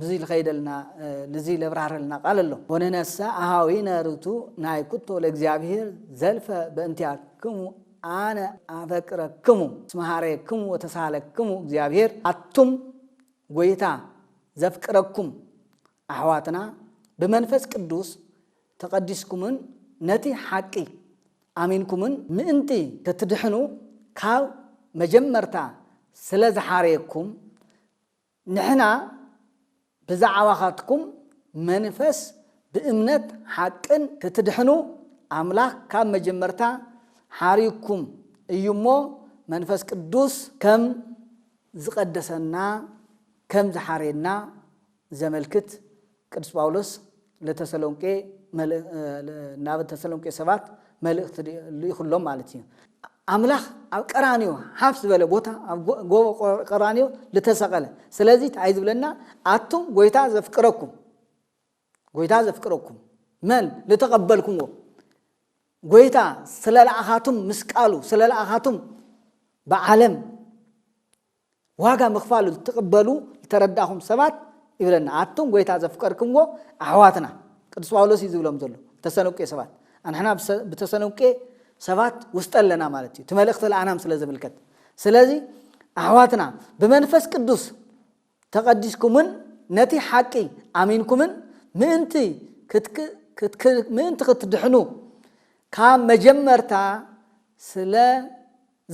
ብዙይ ልኸይደልና ልዙይ ለብራህረልና ቃል ኣሎ ወነነሰ ኣሃዊነ ርቱ ናይ ኩቶ ለእግዚኣብሔር ዘልፈ በእንቲኣክሙ ኣነ ኣፈቅረክሙ እስመ ኀረየክሙ ወተሳሃለክሙ እግዚኣብሔር ኣቱም ጐይታ ዘፍቅረኩም ኣሕዋትና ብመንፈስ ቅዱስ ተቐዲስኩምን ነቲ ሓቂ ኣሚንኩምን ምእንቲ ክትድሕኑ ካብ መጀመርታ ስለ ዝሓረየኩም ንሕና ብዛዕባኻትኩም መንፈስ ብእምነት ሓቅን ክትድሕኑ ኣምላኽ ካብ መጀመርታ ሓሪዩኩም እዩ እሞ መንፈስ ቅዱስ ከም ዝቐደሰና ከም ዝሓረየና ዘመልክት ቅዱስ ጳውሎስ ለተሰሎንቄ ናብ ተሰሎንቄ ሰባት መልእኽቲ ልኢኹሎም ማለት እዩ። ኣምላኽ ኣብ ቀራንዮ ሓፍ ዝበለ ቦታ ኣብ ጎቦ ቀራንዮ ልተሰቐለ ስለዚ እንታይ ዝብለና ኣቱም ጎይታ ዘፍቅረኩም ጎይታ ዘፍቅረኩም መን ልተቐበልኩምዎ ጎይታ ስለለኣኻቱም ምስ ቃሉ ስለለኣኻቱም ብዓለም ዋጋ ምኽፋሉ ልትቕበሉ ልተረዳእኹም ሰባት ይብለና። ኣቱም ጐይታ ዘፍቀርክምዎ ኣሕዋትና፣ ቅዱስ ጳውሎስ እዩ ዝብሎም ዘሎ፣ ተሰሎንቄ ሰባት። ኣንሕና ብተሰሎንቄ ሰባት ውስጠ ኣለና ማለት እዩ፣ እቲ መልእኽቲ ለኣናም ስለ ዝምልከት። ስለዚ ኣሕዋትና ብመንፈስ ቅዱስ ተቐዲስኩምን ነቲ ሓቂ ኣሚንኩምን ምእንቲ ምእንቲ ክትድሕኑ ካብ መጀመርታ ስለ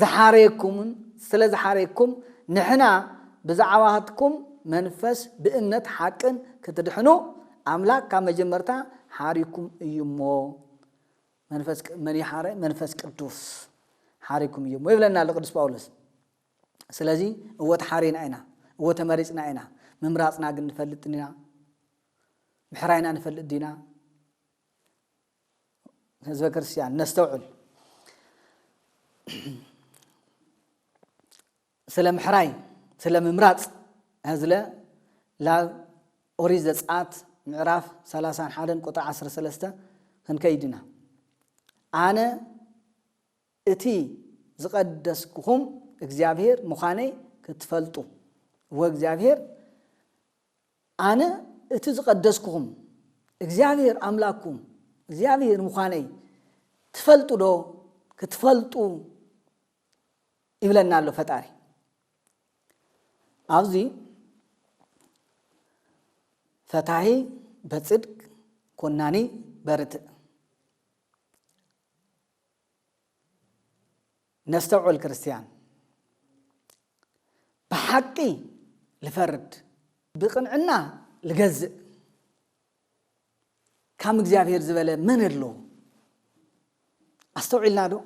ዝሓረየኩምን ስለ ዝሓረየኩም ንሕና ብዛዕባትኩም መንፈስ ብእምነት ሓቅን ክትድሕኑ ኣምላክ ካብ መጀመርታ ሓሪኩም እዩ እሞ መንፈስ መን ይሓረ መንፈስ ቅዱስ ሓሪኩም እዩ እሞ ይብለና ኣሎ ቅዱስ ጳውሎስ ስለዚ እወ ተሓሪና ኢና እወ ተመሪፅና ኢና ምምራፅና ግን ንፈልጥ ዲና ምሕራይና ንፈልጥ ዲና ህዝበ ክርስቲያን ነስተውዕል። ስለ ምሕራይ ስለ ምምራጽ ህዝለ ላብ ኦሪት ዘጽኣት ምዕራፍ 31 ቁጥሪ 13 ክንከይድ ኢና ኣነ እቲ ዝቐደስኩኹም እግዚኣብሄር ምዃነይ ክትፈልጡ ወእግዚኣብሄር ኣነ እቲ ዝቐደስኩኹም እግዚኣብሄር ኣምላክኩም እግዚኣብሄር ምዃነይ ትፈልጡዶ? ክትፈልጡ ይብለና ኣሎ ፈጣሪ ኣብዚ ፈታሒ በፅድቅ ኮናኒ በርትዕ ነስተውዕል ክርስትያን ብሓቂ ልፈርድ ብቅንዕና ልገዝእ ካም እግዚኣብሔር ዝበለ መን ኣሎ ኣስተውዒልና ዶ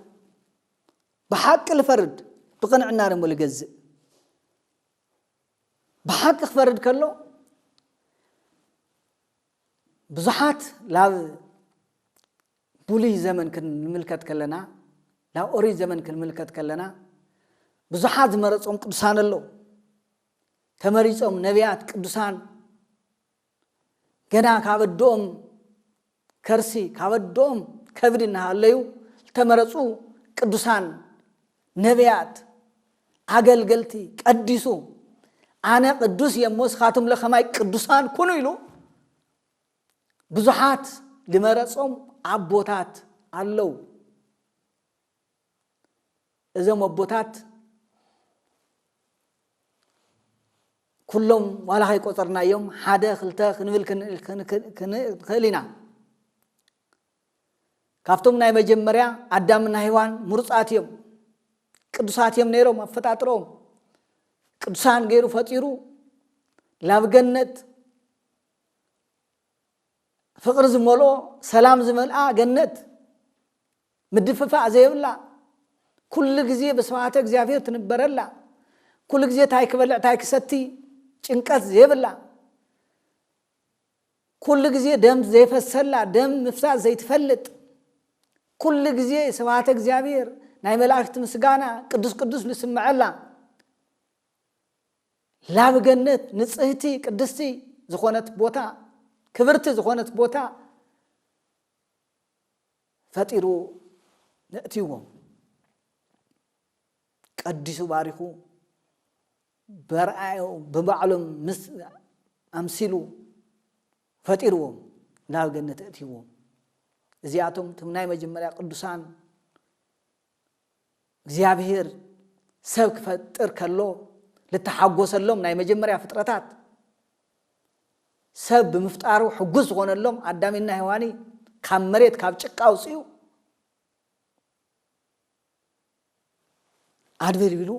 ብሓቂ ልፈርድ ብቅንዕና ደሞ ልገዝእ ብሓቂ ክፈርድ ከሎ ብዙሓት ላብ ብሉይ ዘመን ክንምልከት ከለና፣ ናብ ኦሪት ዘመን ክንምልከት ከለና፣ ብዙሓት ዝመረጾም ቅዱሳን ኣለዉ። ተመሪጾም ነቢያት ቅዱሳን ገና ካብ ኣደኦም ከርሲ ካብ ኣደኦም ከብዲ እናሃለዩ ዝተመረጹ ቅዱሳን ነቢያት ኣገልገልቲ ቀዲሱ ኣነ ቅዱስ እየ እሞ እስኻትም ለኸማይ ቅዱሳን ኩኑ ኢሉ ብዙሓት ልመረጾም ኣቦታት ኣለው። እዞም ኣቦታት ኩሎም ዋላ ከይቆፀርናዮም ሓደ ክልተ ክንብል ክንክእል ኢና። ካብቶም ናይ መጀመርያ ኣዳምና ሂዋን ምሩፃት እዮም ቅዱሳት እዮም ነይሮም ኣፈጣጥሮም ቅዱሳን ገይሩ ፈጢሩ ላብ ገነት ፍቕሪ ዝመልኦ ሰላም ዝመልኣ ገነት ምድፍፋእ ዘይብላ ኩሉ ግዜ ብስብሃተ እግዚኣብሔር ትንበረላ ኩሉ ግዜ ታይ ክበልዕ ታይ ክሰቲ ጭንቀት ዘይብላ ኩሉ ግዜ ደም ዘይፈሰላ ደም ምፍሳስ ዘይትፈልጥ ኩሉ ግዜ ስብሃተ እግዚኣብሔር ናይ መላእክቲ ምስጋና ቅዱስ ቅዱስ ዝስምዐላ ላብ ገነት ንጽህቲ ቅድስቲ ዝኾነት ቦታ ክብርቲ ዝኾነት ቦታ ፈጢሩ ነእትይዎም ቀዲሱ ባሪኹ በርኣዮ ብባዕሎም ምስ ኣምሲሉ ፈጢርዎም ናብ ገነት እእትይዎም እዚኣቶም ትም ናይ መጀመርያ ቅዱሳን እግዚኣብሔር ሰብ ክፈጥር ከሎ ልተሓጎሰሎም ናይ መጀመርያ ፍጥረታት ሰብ ብምፍጣሩ ሕጉስ ዝኾነሎም ኣዳሚና ሔዋኒ ካብ መሬት ካብ ጭቃ ኣውፅኡ ኣድበልቢሉ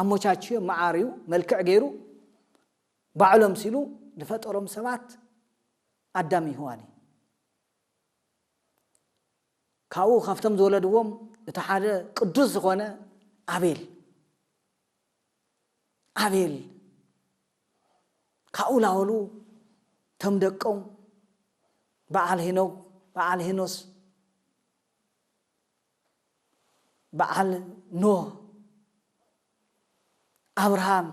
ኣሞቻችዮ መዓርዩ መልክዕ ገይሩ ባዕሎም ሲሉ ዝፈጠሮም ሰባት ኣዳም ይህዋን እዩ ካብኡ ካብቶም ዝወለድዎም እቲ ሓደ ቅዱስ ዝኾነ ኣቤል ኣቤል ካብኡ ላወሉ ተም ደቆም በዓል ሄኖክ በዓል ሄኖስ በዓል ኖህ ኣብርሃም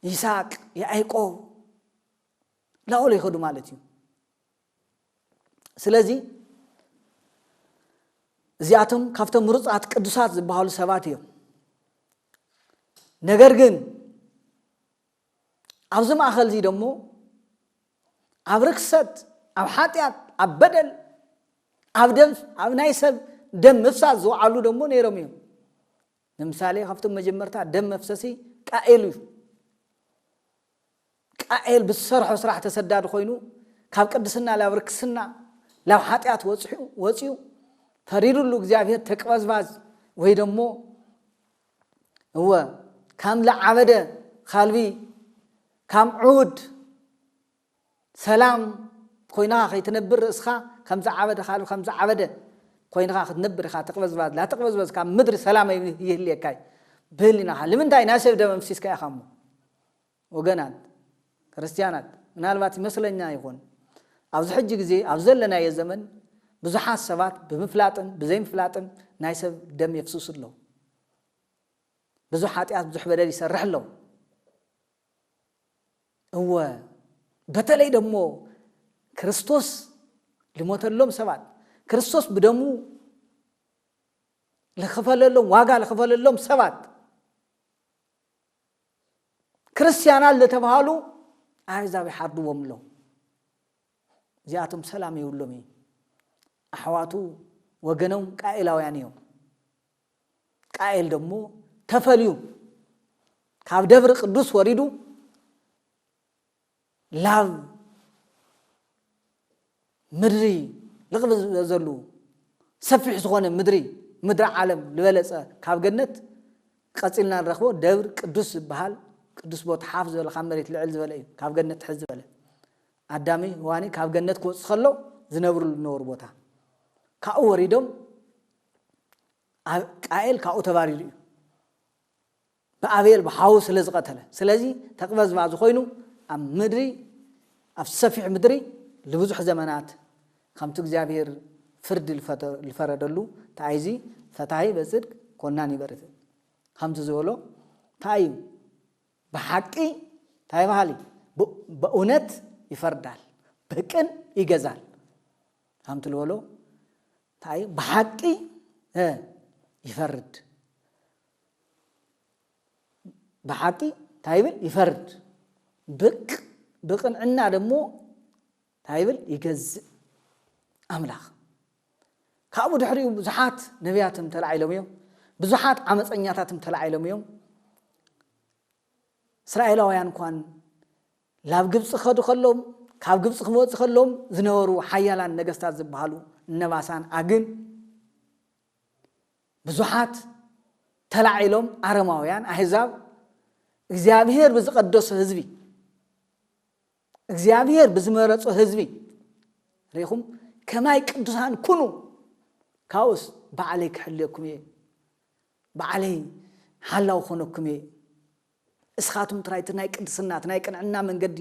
ይስሐቅ ያዕቆብ ላወሉ ይኸዱ ማለት እዩ ስለዚ እዚኣቶም ካብቶም ምሩፃት ቅዱሳት ዝበሃሉ ሰባት እዮም ነገር ግን ኣብዚ ማእኸል እዚ ደሞ ኣብ ርክሰት ኣብ ሓጢኣት ኣብ በደል ኣብ ደም ኣብ ናይ ሰብ ደም ምፍሳስ ዝውዓሉ ደሞ ነይሮም እዮም ንምሳሌ ካብቶም መጀመርታ ደም መፍሰሲ ቃኤል እዩ። ቃኤል ብዝሰርሖ ስራሕ ተሰዳዲ ኮይኑ ካብ ቅድስና ላብ ርክስና ላብ ሓጢኣት ወጽሑ ወጽዩ ፈሪዱሉ እግዚኣብሔር ተቅበዝባዝ ወይ ደሞ እወ ካም ለዓበደ ካልቢ ካም ዑውድ ሰላም ኮይንኻ ከይትነብር ርእስኻ ከም ዝዓበደ ካልእ ከም ዝዓበደ ኮይንኻ ክትነብር ኢኻ ተቅበዝባዝ ላተቅበዝበዝ ካብ ምድሪ ሰላም ኣይይህልየካ እዩ ብህሊናኻ ልምንታይ ናይ ሰብ ደም ኣፍሲስካ ኢኻ እሞ ወገናት ክርስትያናት ምናልባት ይመስለኛ ይኹን ኣብዚ ሕጂ ግዜ ኣብ ዘለናዮ ዘመን ብዙሓት ሰባት ብምፍላጥን ብዘይምፍላጥን ናይ ሰብ ደም የፍስሱ ኣለዉ ብዙሕ ሓጢኣት ብዙሕ በደል ይሰርሕ ኣለዉ እወ በተለይ ደሞ ክርስቶስ ልሞተሎም ሰባት ክርስቶስ ብደሙ ልኽፈለሎም ዋጋ ልኽፈለሎም ሰባት ክርስትያናት ልተባሃሉ ኣሕዛብ ይሓርድዎም ኣለዉ እዚኣቶም ሰላም የብሎም እዩ ኣሕዋቱ ወገኖም ቃኤላውያን እዮም ቃኤል ደሞ ተፈልዩ ካብ ደብር ቅዱስ ወሪዱ ላብ ምድሪ ልቕብ ዝበዘሉ ሰፊሕ ዝኾነ ምድሪ ምድሪ ዓለም ዝበለጸ ካብ ገነት ቀጺልና ንረክቦ ደብር ቅዱስ ዝበሃል ቅዱስ ቦታ ሓፍ ዝበለ ካብ መሬት ልዕል ዝበለ እዩ ካብ ገነት ትሕዝ ዝበለ ኣዳሚ ዋኒ ካብ ገነት ክወፅ ከሎ ዝነብርሉ ዝነበሩ ቦታ ካብኡ ወሪዶም ቃኤል ካብኡ ተባሪሩ እዩ ብኣቤል ብሓዉ ስለ ዝቐተለ ስለዚ ተቅበዝባዙ ኮይኑ ኣብ ምድሪ ኣብ ሰፊሕ ምድሪ ንብዙሕ ዘመናት ከምቲ እግዚኣብሔር ፍርዲ ዝፈረደሉ እንታይ እዚ ፈታሂ በጽድቅ ኮናን ይበርት ከምቲ ዝበሎ እንታይ እዩ ብሓቂ እንታይ በሃሊ በእውነት ይፈርዳል ብቅን ይገዛል ከምቲ ዝበሎ እንታይ እዩ ብሓቂ ይፈርድ ብሓቂ እንታይ ይብል ይፈርድ ብቅ ብቅንዕና ደሞ እንታይ ይብል ይገዝእ ኣምላኽ ካብኡ ድሕሪኡ ብዙሓት ነቢያትም ተላዒሎም እዮም ብዙሓት ዓመፀኛታትም ተላዒሎም እዮም እስራኤላውያን እንኳን ላብ ግብጺ ክኸዱ ከለዉ ካብ ግብጺ ክመጹ ከለዉም ዝነበሩ ሓያላን ነገስታት ዝበሃሉ እነ ባሳን ኣግን ብዙሓት ተላዒሎም ኣረማውያን ኣህዛብ እግዚኣብሄር ብዝቐደሶ ህዝቢ እግዚኣብሄር ብዝመረጾ ህዝቢ ርኢኹም ከማይ ቅዱሳን ኩኑ ካብኡስ ባዕለይ ክሕልየኩም እየ ባዕለይ ሓላው ኮነኩም እየ እስኻትም ጥራይ እቲ ናይ ቅድስና፣ እቲ ናይ ቅንዕና መንገዲ፣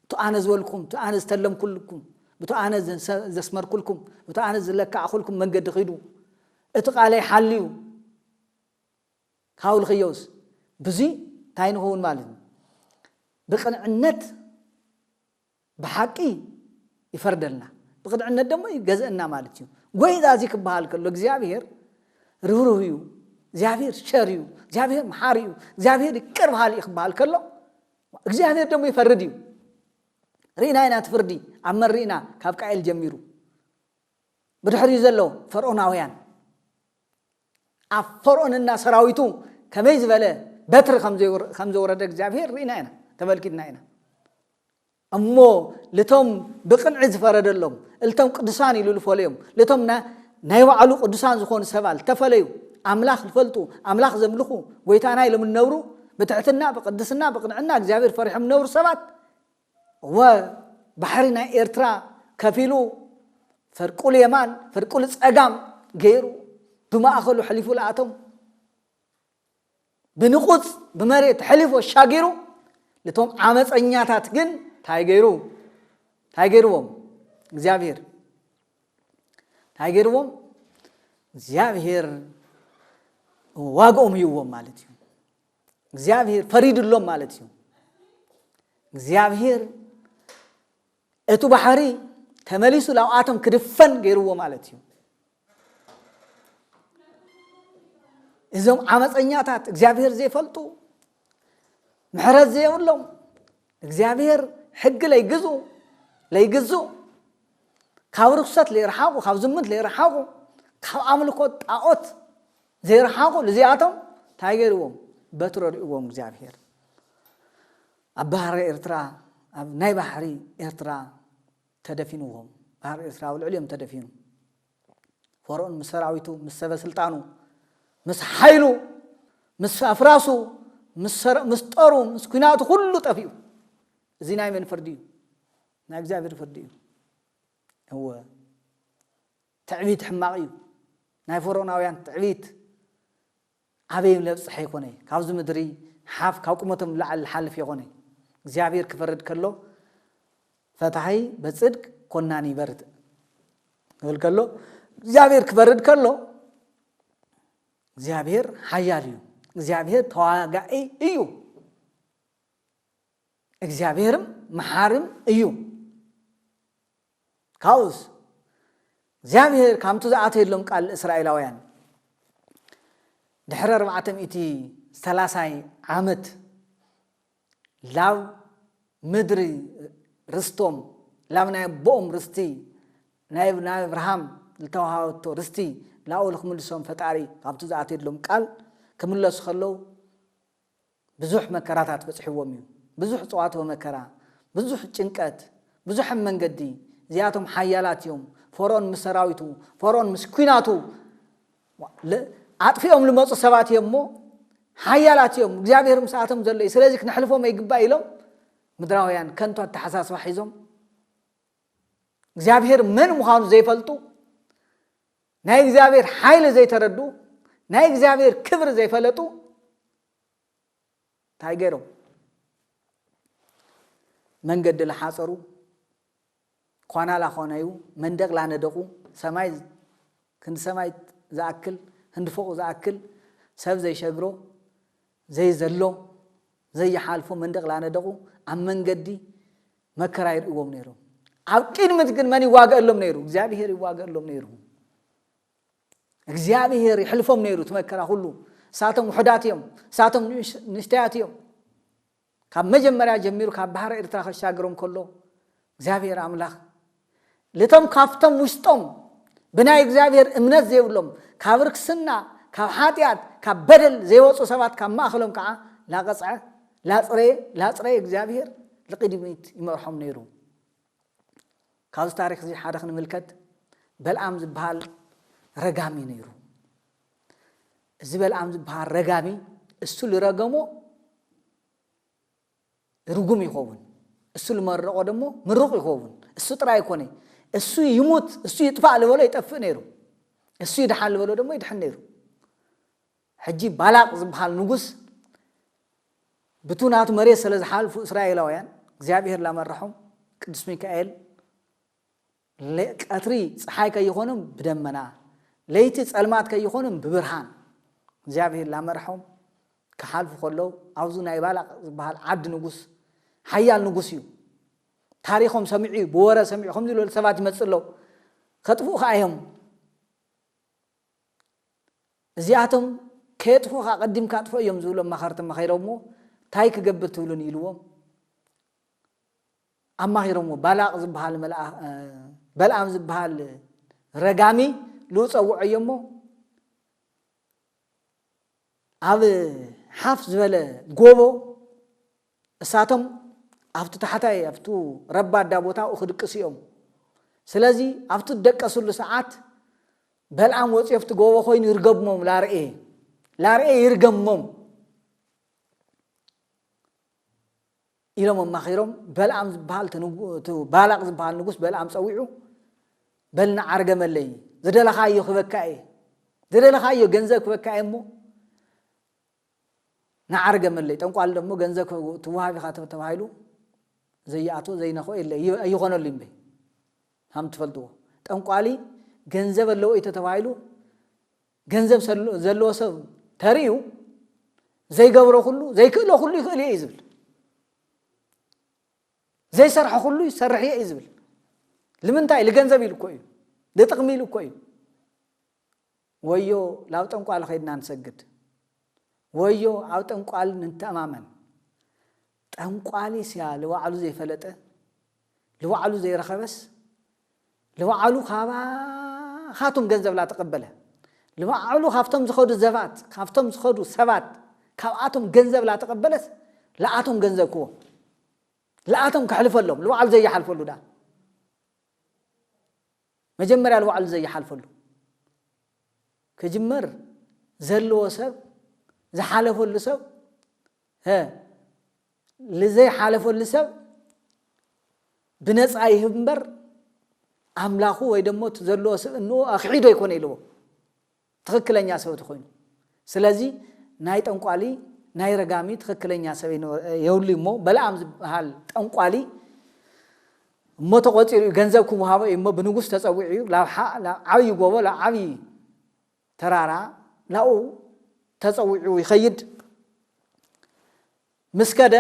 እቱ ኣነ ዝበልኩኹም፣ እቲ ኣነ ዝተለምኩልኩም፣ ብቱ ኣነ ዘስመርኩልኩም፣ ብቱ ኣነ ዝለካዕኹልኩም መንገዲ ኺዱ፣ እቲ ቓለይ ሓልዩ ኻውልኽዮስ፣ ብዙይ እንታይ ንኸውን ማለት እዩ? ብቕንዕነት። ብሓቂ ይፈርደልና ብቅንዕነት ደሞ ይገዘእና ማለት እዩ ጎይታ እዚ ክበሃል ከሎ እግዚኣብሔር ርህሩህ እዩ እግዚኣብሔር ቸር እዩ እግዚኣብሔር መሓሪ እዩ እግዚኣብሔር ይቅር በሃሊ እዩ ክበሃል ከሎ እግዚኣብሔር ደሞ ይፈርድ እዩ ርኢና ኢና እቲ ፍርዲ ኣብ መን ርኢና ካብ ቃኤል ጀሚሩ ብድሕሪኡ ዘሎ ፈርኦናውያን ኣብ ፈርኦንና ሰራዊቱ ከመይ ዝበለ በትሪ ከም ዘውረደ እግዚኣብሄር ርኢና ኢና ተመልኪትና ኢና እሞ ልቶም ብቅንዒ ዝፈረደሎም እልቶም ቅዱሳን ኢሉ ዝፈለዮም ልቶም ናይ ባዕሉ ቅዱሳን ዝኾኑ ሰባ ዝተፈለዩ ኣምላኽ ዝፈልጡ ኣምላኽ ዘምልኹ ጎይታና ኢሎም እነብሩ ብትሕትና ብቅድስና ብቅንዕና እግዚኣብሄር ፈሪሖም እነብሩ ሰባት እወ ባሕሪ ናይ ኤርትራ ከፊሉ ፈርቁል የማን ፈርቁል ጸጋም ገይሩ ብማእኸሉ ኣሕሊፉ ለኣቶም ብንቑጽ ብመሬት ኣሕሊፉ ኣሻጊሩ ልቶም ዓመፀኛታት ግን ታይ ገይሩ ታይ ገይርዎም እግዚኣብሔር ታይ ገይርዎም እግዚኣብሔር ዋግኦም ይዎም ማለት እዩ እግዚኣብሄር ፈሪድሎም ማለት እዩ እግዚኣብሄር እቲ ባሕሪ ተመሊሱ ላብኣቶም ክድፈን ገይርዎ ማለት እዩ እዞም ዓመፀኛታት እግዚኣብሄር ዘይፈልጡ ምሕረት ዘየብሎም እግዚኣብሄር ሕጊ ለይግዙ ለይግዙ ካብ ርኩሰት ለይረሓቑ ካብ ዝምንት ለይረሓቑ ካብ ኣምልኮት ጣዖት ዘይረሓቑ ልዚኣቶም ታይ ገይርዎም በትሪ ኣሪኡዎም እግዚኣብሄር ኣብ ባህሪ ኤርትራ ኣብ ናይ ባሕሪ ኤርትራ ተደፊንዎም ባህሪ ኤርትራ ኣብ ልዕሊኦም ተደፊኑ ፈርኦን ምስ ሰራዊቱ ምስ ሰበ ስልጣኑ ምስ ሓይሉ ምስ ኣፍራሱ ምስ ጠሩ ምስ ኩናቱ ኩሉ ጠፊኡ እዚ ናይ መን ፍርዲ እዩ ናይ እግዚኣብሔር ፍርዲ እዩ እወ ትዕቢት ሕማቅ እዩ ናይ ፎሮናውያን ትዕቢት ኣበይ ለብጽሐ ይኮነ ካብዚ ምድሪ ሓፍ ካብ ቁመቶም ንላዕሊ ልሓልፍ የኮነ እግዚኣብሔር ክፈርድ ከሎ ፈታሂ በጽድቅ ኮናኒ ይበርትእ ክብል ከሎ እግዚኣብሔር ክፈርድ ከሎ እግዚኣብሔር ሓያል እዩ እግዚኣብሔር ተዋጋኢ እዩ እግዚኣብሔርም መሓርም እዩ ካብኡስ፣ እግዚኣብሄር ካብቲ ዝኣተየሎም ቃል እስራኤላውያን ድሕሪ ኣርባዕተ ሚእቲ ሰላሳይ ዓመት ላብ ምድሪ ርስቶም ላብ ናይ ኣቦኦም ርስቲ ናይ ናይ ኣብርሃም ዝተዋሃበቶ ርስቲ ናብኡ ንክምልሶም ፈጣሪ ካብቲ ዝኣተየሎም ቃል ክምለሱ ከለዉ ብዙሕ መከራታት በጽሕዎም እዩ ብዙሕ ጸዋትወ መከራ ብዙሕ ጭንቀት ብዙሐም መንገዲ እዚኣቶም ሓያላት እዮም ፎርኦን ምስ ሰራዊቱ ፎርኦን ምስ ኩናቱ ኣጥፊኦም ልመጹ ሰባት እዮም እሞ ሓያላት እዮም እግዚኣብሔር ምስኣቶም ዘሎ እዩ ስለዚ ክነሕልፎም ኣይግባእ ኢሎም ምድራውያን ከንቱ ኣተሓሳስባ ሒዞም እግዚኣብሔር መን ምዃኑ ዘይፈልጡ ናይ እግዚኣብሔር ሓይሊ ዘይተረድኡ ናይ እግዚኣብሔር ክብሪ ዘይፈለጡ እንታይ ገይሮም መንገዲ ላሓፀሩ ኳና ላኾነዩ መንደቅ ላነደቁ ሰማይ ክንዲ ሰማይ ዝኣክል ህንዲ ፎቅ ዝኣክል ሰብ ዘይሸግሮ ዘይዘሎ ዘይሓልፎ መንደቕ ላነደቑ ኣብ መንገዲ መከራ ይርእዎም ነይሮም። ኣብ ቅድምት ግን መን ይዋገእሎም ነይሩ? እግዚኣብሄር ይዋገእሎም ነይሩ። እግዚኣብሄር ይሕልፎም ነይሩ እቲ መከራ ኩሉ። እሳቶም ውሑዳት እዮም፣ እሳቶም ንእሽተያት እዮም። ካብ መጀመርያ ጀሚሩ ካብ ባሕሪ ኤርትራ ከሻግሮም ከሎ እግዚኣብሔር ኣምላኽ ልቶም ካብቶም ውሽጦም ብናይ እግዚኣብሔር እምነት ዘይብሎም ካብ ርክስና ካብ ሓጢኣት ካብ በደል ዘይወፁ ሰባት ካብ ማእኸሎም ከዓ ላቐፅዐ ላፅረየ ላፅረየ እግዚኣብሔር ልቕድሚት ይመርሖም ነይሩ። ካብዚ ታሪኽ እዚ ሓደ ክንምልከት በልኣም ዝበሃል ረጋሚ ነይሩ። እዚ በልኣም ዝበሃል ረጋሚ እሱ ልረገሞ ርጉም ይኸውን፣ እሱ ልመረቆ ደሞ ምሩቕ ይኸውን። እሱ ጥራይ ኣይኮነ እሱ ይሙት እሱ ይጥፋእ ልበሎ ይጠፍእ ነይሩ፣ እሱ ይድሓን ልበሎ ደሞ ይድሕን ነይሩ። ሕጂ ባላቅ ዝብሃል ንጉስ ብቱ ናቱ መሬት ሰለ ዝሓልፉ እስራኤላውያን እግዚኣብሄር ላመረሖም ቅዱስ ሚካኤል ቀትሪ ፀሓይ ከይኾንም ብደመና ለይቲ ፀልማት ከይኾንም ብብርሃን እግዚኣብሄር ላመረሖም ክሓልፉ ከለው ኣብዚ ናይ ባላቅ ዝበሃል ዓዲ ንጉስ ሓያል ንጉስ እዩ ታሪኾም ሰሚዑ እዩ ብወረ ሰሚዑ ከምዚ ዝበሉ ሰባት ይመፅእ ኣለው ከጥፍኡ ከዓ እዮም እዚኣቶም ከየጥፉኻ ኣቐዲምካ ኣጥፍኦ እዮም ዝብሉ ኣማኸርቲ መኺሮምዎ ታይ ክገብር ትብሉኒ ኢልዎም ኣማኺሮምዎ ባላቕ ዝበሃል በልኣም ዝበሃል ረጋሚ ልኡ ፀውዐዮ እሞ ኣብ ሓፍ ዝበለ ጎቦ እሳቶም ኣብቱ ታሕታይ ኣብቱ ረባዳ ቦታኡ ክድቅሱ እዮም ስለዚ ኣብቱ ደቀስሉ ሰዓት በልኣም ወፂኦ ኣብቲ ጎቦ ኮይኑ ይርገብሞም ላርኤ ላርኤ ይርገሞም ኢሎም ኣማኺሮም በልኣም ዝበሃል ባላቅ ዝበሃል ንጉስ በልኣም ፀዊዑ በልና ዓርገመለይ ዝደለኻዮ ክበካ እየ ዝደለኻዮ ገንዘብ ክበካ እየ እሞ ናዓር ገመለይ ጠንቋሊ ደሞ ገንዘብ ትዋሃብ ኢኻ ተባሂሉ ዘይኣትዎ ዘይነኽኦ የለ ኣይኾነሉይ እምበይ ሃም ትፈልጥዎ ጠንቋሊ ገንዘብ ኣለዎ እዩ ተተባሂሉ ገንዘብ ዘለዎ ሰብ ተርእዩ ዘይገብሮ ኩሉ ዘይክእሎ ኩሉ ይኽእል እየ እዩ ዝብል ዘይሰርሐ ኩሉ ይሰርሕ እየ እዩ ዝብል ልምንታይ ልገንዘብ ኢሉ እኮ እዩ ልጥቕሚ ኢሉ እኮ እዩ ወዮ ላብ ጠንቋሊ ከይድና ንሰግድ ወዮ ኣብ ጠንቋሊ ንተኣማመን ጠንቋሊስያ ልባዕሉ ዘይፈለጠ ልባዕሉ ዘይረኸበስ ልባዕሉ ካባኻቱም ገንዘብ ላተቐበለ ልባዕሉ ካብቶም ዝኸዱ ዘባት ካብቶም ዝኸዱ ሰባት ካብኣቶም ገንዘብ ላተቐበለስ ልኣቶም ገንዘብ ክዎ ልኣቶም ከሕልፈሎም ልባዕሉ ዘይሓልፈሉ ዳ መጀመርያ ልባዕሉ ዘይሓልፈሉ ክጅመር ዘለዎ ሰብ ዝሓለፈሉ ሰብ ሀ ልዘይሓለፈሉ ሰብ ብነፃ ይህብ እምበር ኣምላኹ ወይ ደሞ እቲ ዘለዎ ስብእንኡ ኣኽዒዶ ኣይኮነ ኢልዎ ትኽክለኛ ሰበ ተኾይኑ ስለዚ ናይ ጠንቋሊ ናይ ረጋሚ ትኽክለኛ ሰበ የብሉይ እሞ በለኣም ዝበሃል ጠንቋሊ እሞ ተቖፂሩ እዩ ገንዘብ ክወሃቦ እዩ እሞ ብንጉስ ተፀዊዑ እዩ ናብ ዓብዪ ጎቦ ናብ ዓብዪ ተራራ ናብኡ ተፀዊዑ ይኸይድ ምስ ከደ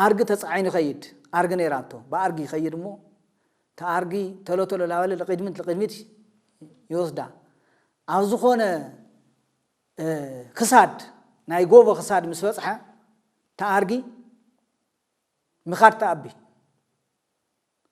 ኣርጊ ተጻዒኑ ይኸይድ ኣርጊ ነይራቶ ብኣርጊ ይኸይድ እሞ እታ ኣርጊ ተሎ ተሎ ላበለ ልቂድምት ልቂድሚት ይወስዳ ኣብ ዝኾነ ክሳድ ናይ ጎቦ ክሳድ ምስ በጽሐ እታ ኣርጊ ምኻድ ተኣቢ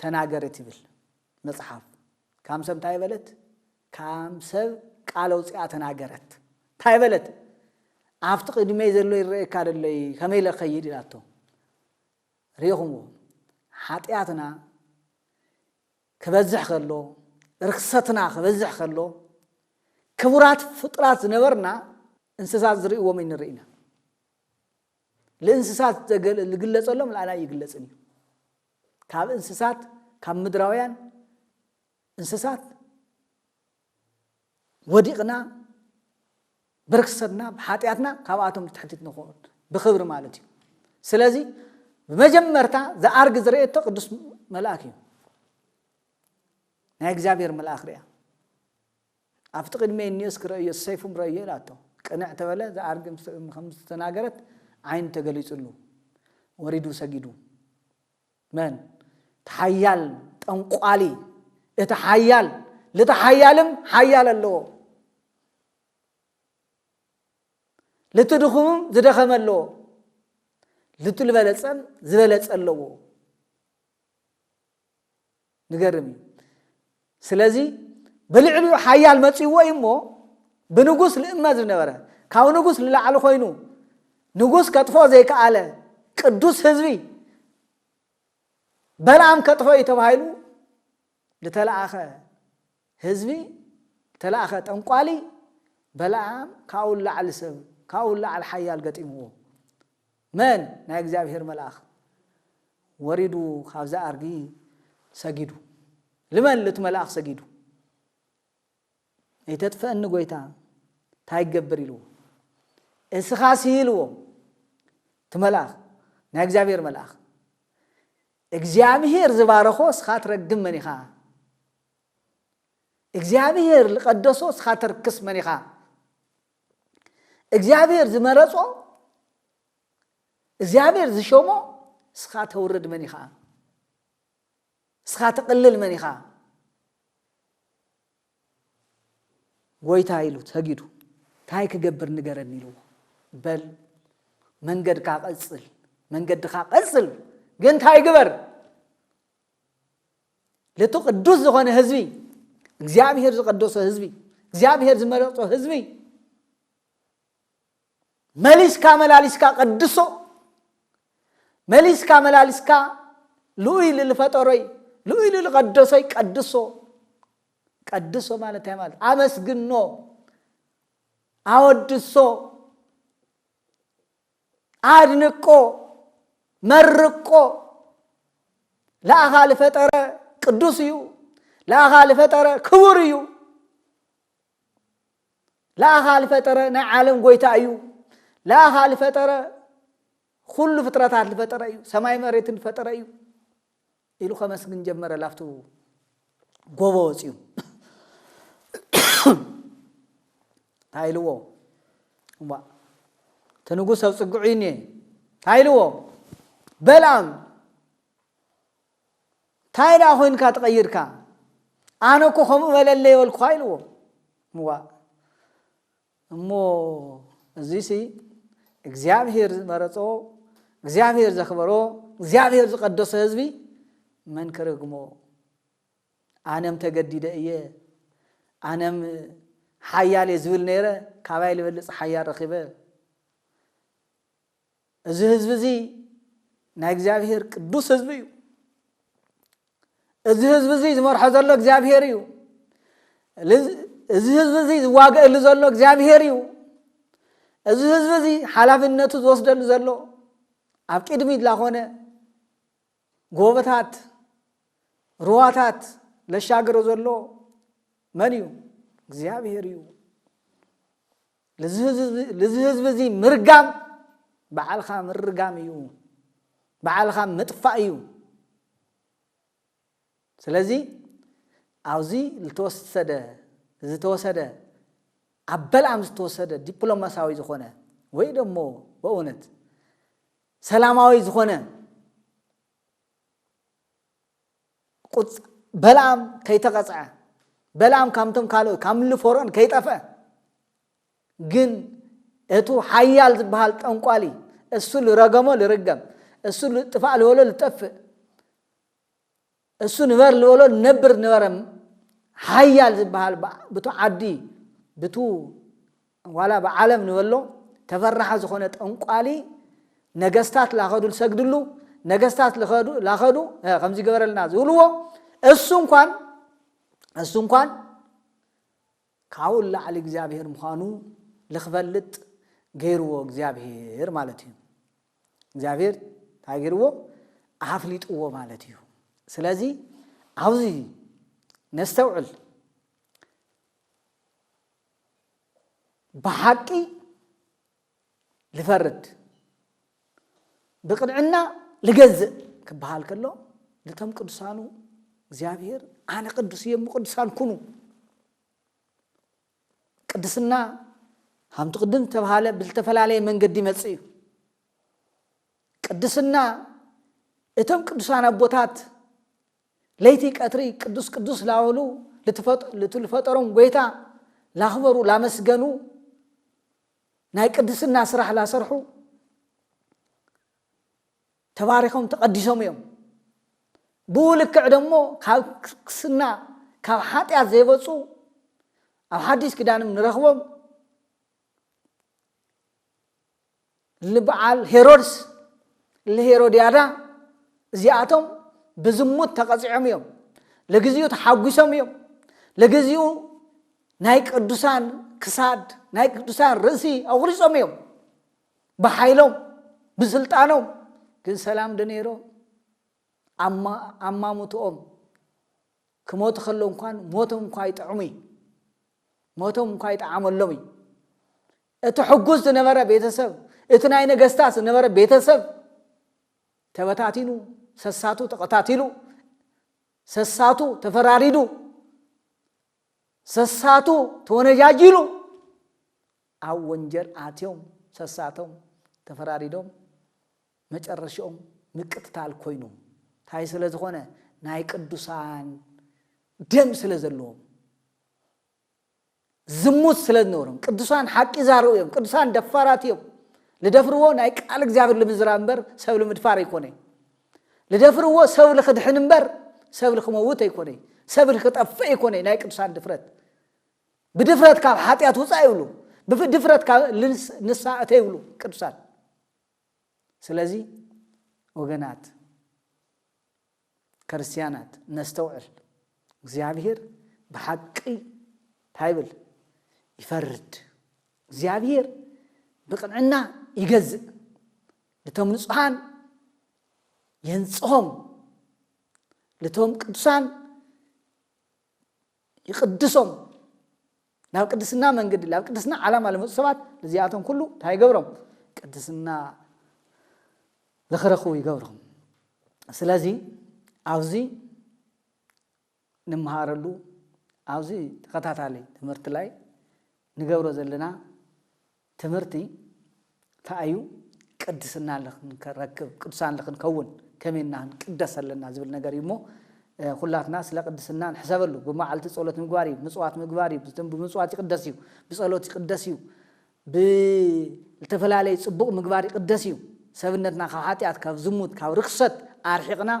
ተናገር እትብል መጽሓፍ ካም ሰብ እንታይ በለት? ካም ሰብ ቃል ኣውጺኣ ተናገረት። እንታይ በለት? ኣብቲ ቅድመይ ዘሎ ይረኣየካ ደሎይ ከመይ ኢለ ክኸይድ ኢላቶ። ርኢኹምዎ ሓጢኣትና ክበዝሕ ከሎ ርክሰትና ክበዝሕ ከሎ ክቡራት ፍጡራት ዝነበርና እንስሳት ዝርእዎም ንርኢ ኢና ልእንስሳት ዝግለጸሎም ንኣና ይግለጽን እዩ ካብ እንስሳት ካብ ምድራውያን እንስሳት ወዲቕና ብርክሰትና ብሓጢኣትና ካብኣቶም ትሕቲት ንኸውን ብክብሪ ማለት እዩ ስለዚ ብመጀመርታ ዝኣርግ ዝረኤቶ ቅዱስ መልኣክ እዩ ናይ እግዚኣብሔር መልኣክ ርያ ኣብቲ ቅድመይ እኒኦ እስኪ ረእዮ ሰይፉም ረእዮ ኢላቶ ቅንዕ ተበለ ዝኣርግ ከምዝተናገረት ዓይኑ ተገሊጹሉ ወሪዱ ሰጊዱ መን እቲ ሓያል ጠንቋሊ እቲ ሓያል ልቲ ሓያልም ሓያል ኣለዎ ልቲ ድኹምም ዝደኸመ ኣለዎ ልቲ ዝበለጸም ዝበለጸ ኣለዎ ንገርም እዩ ስለዚ ብልዕሊኡ ሓያል መጺዎ እዩ እሞ ብንጉስ ልእመ ዝነበረ ካብ ንጉስ ልላዕሊ ኮይኑ ንጉስ ከጥፎ ዘይከኣለ ቅዱስ ህዝቢ በልኣም ከጥፎ እዩ ተባሂሉ ዝተለኣኸ ህዝቢ ተላእከ ጠንቋሊ በላኣም ካብኡ ንላዕሊ ሰብ ካብኡ ንላዕሊ ሓያል ገጢምዎ መን ናይ እግዚኣብሄር መልኣኽ ወሪዱ ካብዛ ኣርጊ ሰጊዱ ልመን ልቲ መልኣኽ ሰጊዱ እይተጥፈእኒ ጎይታ እንታይ ይገብር ኢልዎ እስኻ ስኢልዎ እቲ መልኣኽ ናይ እግዚኣብሄር መልኣኽ እግዚኣብሄር ዝባረኾ እስኻ ትረግም መን ኢኻ እግዚኣብሄር ልቀደሶ እስኻ ተርክስ መን ኢኻ እግዚኣብሄር ዝመረጾ እግዚኣብሄር ዝሸሞ እስኻ ተውርድ መን ኢኻ እስኻ ተቕልል መን ኢኻ ጎይታ ኢሉ ሰጊዱ እንታይ ክገብር ንገረኒ ኢልዎ በል መንገድካ ቀጽል መንገድኻ ቀጽል ግን እንታይ ግበር ለቲ ቅዱስ ዝኾነ ህዝቢ እግዚኣብሔር ዝቀደሶ ህዝቢ እግዚኣብሔር ዝመረፆ ህዝቢ መሊስካ መላሊስካ ቀድሶ መሊስካ መላሊስካ ልኡይ ልልፈጠሮይ ልኡይ ልልቀደሶይ ቀድሶ ቀድሶ ማለት እንታይ ማለት ኣመስግኖ ኣወድሶ ኣድንቆ መርቆ ለኣኻ ልፈጠረ ቅዱስ እዩ ለኣኻ ልፈጠረ ክቡር እዩ ለኣኻ ልፈጠረ ናይ ዓለም ጎይታ እዩ ለኣኻ ልፈጠረ ኩሉ ፍጥረታት ልፈጠረ እዩ ሰማይ መሬትን ልፈጠረ እዩ ኢሉ ከመስግን ጀመረ ላብቱ ጎቦ ወጺኡ። ታይ ኢልዎ እዋእ እቲ ንጉስ ኣብጽግዑይኒ እየ ታይ ኢልዎ በልኣም ታይ ደኣ ኮይንካ ተቐይርካ ኣነ እኮ ከምኡ በለለይ በልኩኻ ኢልዎ እዋእ እሞ እዙይሲ እግዚኣብሄር ዝመረፆ፣ እግዚኣብሄር ዘኽበሮ፣ እግዚኣብሄር ዝቐደሶ ህዝቢ መን ክርግሞ? ኣነም ተገዲደ እየ፣ ኣነም ሓያል እየ ዝብል ነይረ፣ ካባይ ልበልፅ ሓያል ረኺበ። እዚ ህዝቢ እዚ ናይ እግዚኣብሄር ቅዱስ ህዝቢ እዩ። እዚ ህዝቢ እዚ ዝመርሖ ዘሎ እግዚኣብሄር እዩ። እዚ ህዝቢ እዚ ዝዋገእሉ ዘሎ እግዚኣብሄር እዩ። እዚ ህዝቢ እዚ ሓላፍነቱ ዝወስደሉ ዘሎ ኣብ ቅድሚት ላኾነ ጎቦታት ሩዋታት ለሻግሮ ዘሎ መን እዩ? እግዚኣብሄር እዩ። ልዚ ህዝቢ እዚ ምርጋም በዓልኻ ምርጋም እዩ በዓልኻ ምጥፋእ እዩ ስለዚ ኣብዚ ዝተወሰደ ዝተወሰደ ኣብ በልኣም ዝተወሰደ ዲፕሎማሳዊ ዝኾነ ወይ ደሞ በእውነት ሰላማዊ ዝኾነ ቁጽ በልኣም ከይተቐጽዐ፣ በልኣም ካምቶም ካልኦት ካብ ምሉ ፎርኦን ከይጠፍአ፣ ግን እቱ ሓያል ዝበሃል ጠንቋሊ እሱ ልረገሞ ልርገም፣ እሱ ልጥፋእ ልበሎ ልጠፍእ፣ እሱ ንበር ልበሎ ልነብር ንበረ ሓያል ዝበሃል ብቱ ዓዲ ብቱ ዋላ ብዓለም ንበሎ ተፈራሒ ዝኾነ ጠንቋሊ ነገስታት ላኸዱ ልሰግድሉ ነገስታት ልኸዱ ላኸዱ ከምዚ ገበረልና ዝብልዎ እሱ እንኳን እሱ እንኳን ካብኡ ላዕሊ እግዚኣብሄር ምዃኑ ልክፈልጥ ገይርዎ እግዚኣብሄር ማለት እዩ እግዚኣብሄር እንታይ ገይርዎ ኣፍሊጥዎ ማለት እዩ ስለዚ ኣብዚ ነስተውዕል ብሓቂ ልፈርድ ብቕንዕና ልገዝእ ክበሃል ከሎ ነቶም ቅዱሳኑ እግዚኣብሔር ኣነ ቅዱስ እየ ቅዱሳን ኩኑ ቅድስና ከምቲ ቅድም ዝተባሃለ ብዝተፈላለየ መንገዲ ይመፅእ እዩ ቅድስና እቶም ቅዱሳን ኣቦታት ለይቲ ቀትሪ ቅዱስ ቅዱስ ላበሉ ልቲ ልፈጠሮም ጐይታ ላኽበሩ ላመስገኑ ናይ ቅድስና ስራሕ ላሰርሑ ተባሪኾም ተቐዲሶም እዮም። ብኡ ልክዕ ደሞ ካብ ክስና ካብ ሓጢኣት ዘይበፁ ኣብ ሓዲስ ኪዳንም ንረኽቦም ልበዓል ሄሮድስ ልሄሮድያዳ እዚኣቶም ብዝሙት ተቐፂዖም እዮም ለግዚኡ ተሓጒሶም እዮም ለግዚኡ ናይ ቅዱሳን ክሳድ ናይ ቅዱሳን ርእሲ ኣቑሪፆም እዮም ብሓይሎም ብስልጣኖም ግን ሰላም ዶ ነይሮ ኣማሙትኦም ክሞቱ ከለዉ እንኳን ሞቶም እኳ ይጥዕሙ እዩ ሞቶም እኳ ይጠዓመሎም እዩ እቲ ሕጉስ ዝነበረ ቤተሰብ እቲ ናይ ነገስታት ዝነበረ ቤተሰብ ተበታቲኑ ሰሳቱ ተቐታቲሉ ሰሳቱ ተፈራሪዱ ሰሳቱ ተወነጃጂሉ ኣብ ወንጀል ኣትዮም ሰሳቶም ተፈራሪዶም መጨረሽኦም ምቅትታል ኮይኑ ታይ ስለ ዝኾነ ናይ ቅዱሳን ደም ስለ ዘለዎም ዝሙት ስለ ዝነበሮም ቅዱሳን ሓቂ ዛረቡ እዮም ቅዱሳን ደፋራት እዮም ልደፍርዎ ናይ ቃል እግዚኣብሔር ልምዝራብ እምበር ሰብ ልምድፋር ኣይኮነ ልደፍርዎ ሰብ ልክድሕን እምበር ሰብ ልክመውት ኣይኮነ ሰብ ልክጠፍእ ኣይኮነ ናይ ቅዱሳን ድፍረት ብድፍረት ካብ ሓጢኣት ውፃእ ይብሉ ብድፍረት ካብ ንሳ እተ ይብሉ ቅዱሳን ስለዚ ወገናት ክርስትያናት ነስተውዕል፣ እግዚኣብሔር ብሓቂ እንታይ ይብል? ይፈርድ። እግዚኣብሔር ብቕንዕና ይገዝእ፣ ልቶም ንጹሓን የንጽሆም፣ ልቶም ቅዱሳን ይቕድሶም። ላብ ቅድስና መንግዲ ላብ ቅድስና ዓላማ ልመጹ ሰባት ልዚኣቶም ኩሉ እንታይ ይገብሮም ቅድስና ልክረክቡ ይገብሮም ስለዚ ኣብዚ ንምሃረሉ ኣብዚ ተኸታታሊ ትምህርቲ ላይ ንገብሮ ዘለና ትምህርቲ ተኣዩ ቅድስና ልክንረክብ ቅዱሳን ልክንከውን ከመይ እና ክንቅደስ ኣለና ዝብል ነገር እዩ እሞ ኩላትና ስለ ቅድስና ንሕሰበሉ ብመዓልቲ ጸሎት ምግባር እዩ ምጽዋት ምግባር እዩ ብምጽዋት ይቅደስ እዩ ብጸሎት ይቅደስ እዩ ብልተፈላለዩ ጽቡቕ ምግባር ይቅደስ እዩ ሰብነትና ካብ ሓጢኣት ካብ ዝሙት ካብ ርክሰት ኣርሒቕና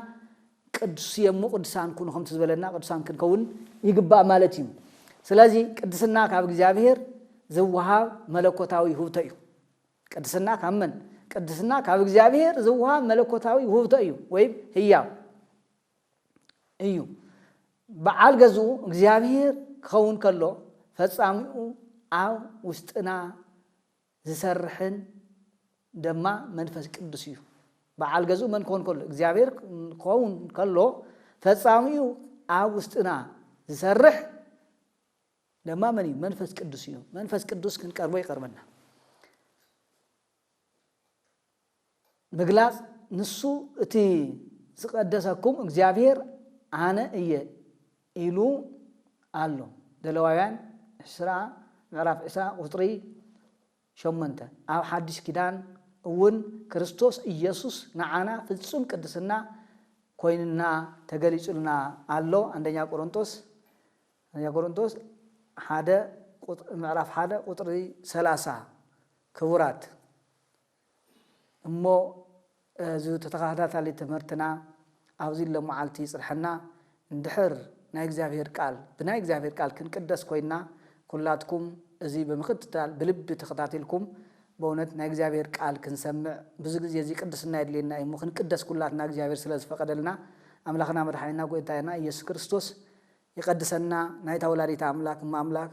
ቅዱስ እየ እሞ ቅዱሳን ኩኑ ከምቲ ዝበለና ቅዱሳን ክንከውን ይግባእ ማለት እዩ። ስለዚ ቅድስና ካብ እግዚኣብሔር ዝወሃብ መለኮታዊ ውህብቶ እዩ። ቅድስና ካብ መን? ቅድስና ካብ እግዚኣብሔር ዝወሃብ መለኮታዊ ውህብቶ እዩ ወይም ህያው እዩ። በዓል ገዝኡ እግዚኣብሔር ክኸውን ከሎ ፈጻሚኡ ኣብ ውሽጥና ዚሰርሕን ደማ መንፈስ ቅዱስ እዩ። በዓል ገዝኡ መን ክኾን ከሎ? እግዚኣብሔር ክኸውን ከሎ ፈጻሚኡ ኣብ ውስጥና ዚሰርሕ ደማ መን እዩ? መንፈስ ቅዱስ እዩ። መንፈስ ቅዱስ ክንቀርቦ ይቐርበና። ምግላጽ ንሱ እቲ ዝቀደሰኩም እግዚኣብሔር ኣነ እየ ኢሉ ኣሎ ዘለዋውያን ዕስራ ምዕራፍ ዕስራ ቁጽሪ ሸሞንተ ኣብ ሓድሽ ኪዳን እውን ክርስቶስ ኢየሱስ ንዓና ፍጹም ቅድስና ኮይንና ተገሊጹልና ኣሎ ኣንደኛ ቆሮንቶስ ኣንደኛ ቆሮንቶስ ሓደ ምዕራፍ ሓደ ቁጽሪ ሰላሳ ክቡራት እሞ እዚ ተተኻታታሊ ትምህርትና ኣብዚ ሎማዓልቲ ይጽንሐና እንድሕር ናይ እግዚኣብሄር ቃል ብናይ እግዚኣብሄር ቃል ክንቅደስ ኮይና ኩላትኩም እዚ ብምክትታል ብልቢ ተኸታቲልኩም በእውነት ናይ እግዚኣብሄር ቃል ክንሰምዕ ብዙ ግዜ እዚ ቅድስና የድልየና እዩ እሞ ክንቅደስ ኩላትና እግዚኣብሄር ስለ ዝፈቀደልና ኣምላኽና መድሓኒና ጎይታና ኢየሱስ ክርስቶስ ይቀድሰና ናይታ ወላዲተ ኣምላክ እመ ኣምላክ